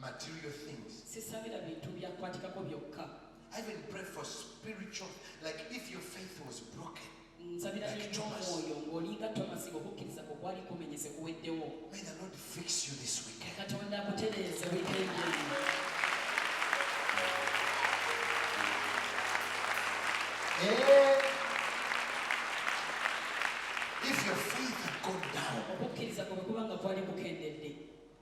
material things. Sisabira bintu bya kwatikako byokka. I even pray for spiritual like if your faith was broken. Nsabira like Thomas. Oyo ngolinga Thomas okukkiriza ko kwali kumenyese kuweddewo. May the Lord fix you this weekend. Katonda akutereeze weekend eno. Eh. If your faith had gone down. Okukkiriza ko bwe kuba nga kwali kukendedde.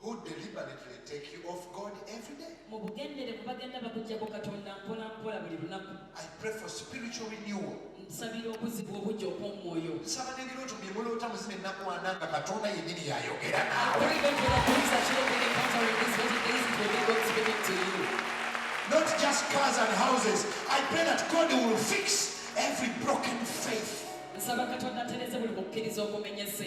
who deliberately take you off God every day. I pray for spiritual renewal. nsabira okuzibwa obujja okw'omwoyo nsaba n'ebirooto bye muloota muzina ennaku ana nga katonda yennyini yayogera naawe not just cars and houses i pray that god will fix every broken faith nsaba katonda atereze buli mukkiriza ogumenyese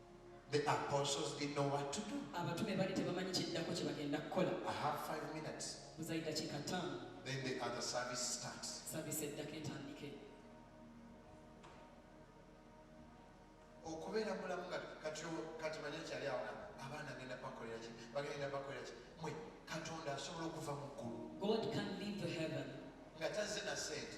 The apostles didn't know what to do. Abatume bali tebamanyi kiddako kye bagenda kukola. I have five minutes. Buzayi dakika ttaano. Then the other service starts. Service eddako etandike. okubeera mulamu nga kati kati manya kyali awona abaana agenda bakolera ki bagenda bakolera ki mwe katonda asobola okuva mu ggulu nga tazze na sente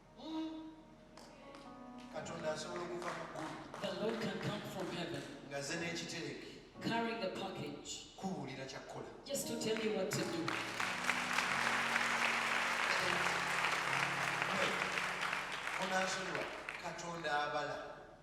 katonda asobola okuva mu ggulu ngaze n'ekitereke kubuulira kyakkola onansonyiwa katonda abala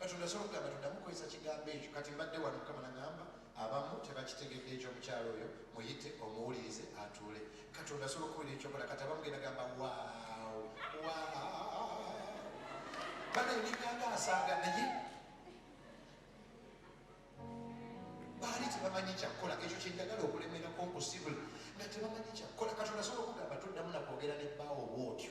Katonda asobola okugamba toddamu kukozesa kigambo ekyo. Kati mbadde wano, Mukama n'aŋŋamba, Abamu tebakitegedde ekyo. Omukyala oyo muyite, omuwulirize, atuule. Katonda asobola okukubuulira eky'okola. Kati abamu genda gamba, Waawo! Waawo! Banaye nikanga asaaga naye baali tebamanyi kyakukola ekyo kyenjagala okulemerako nkusibule nga tebamanyi kyakukola katonda asobola okugamba toddamu nakwogera ne bbaawo bwotyo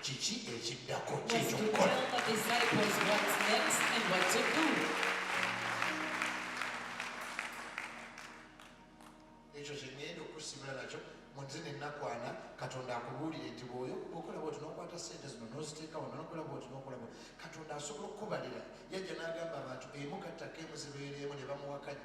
Kiki ekiddako kyekyokukola? ekyo kyegenda okusimula nakyo munze nenakwana katonda akubuulire nti bwoyo okola bwoti nokwata sente zino noziteekawo nokola bwoti nokola bwoti katonda asobola okukubalira yajja nagamba abantu emu kattako emuzibeereemu ne bamuwakanya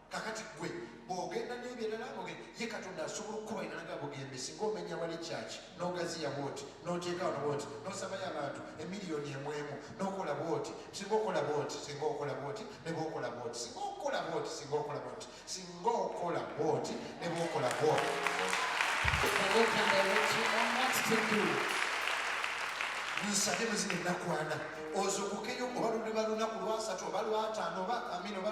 kakati gwe bwogenda nebyerala oge ye katonda asobola okukuba inalaga bugembe singa omenya wali kyaki nogaziya bwoti noteekawo nobwoti nosabayo abantu emiliyoni emwemu nokola bwoti singa okola bwoti singa okola bwoti nebwokola bwoti singa okola bwoti singa okola bwoti singa okola bwoti nebwokola bwoti nsabe muzina enakwana ozukukeyo oba luliba lunaku lwasatu oba lwataano oba amina oba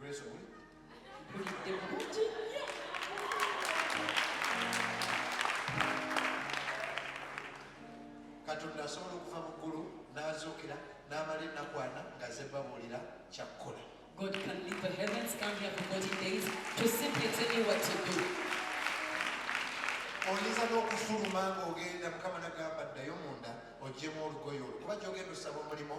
Grace Owen. Mulidde bulungi. katonda asobola okuva mu ggulu n'azuukira n'amala ennaku ana nga ze babuulira kyakkola God can leave the heavens, come here for 40 days to simply tell you what to do. oyinza n'okufuluma ng'ogenda mukama nagamba ddayo munda ogyemu olugoyo olwo kuba gyogenda osaba omulimu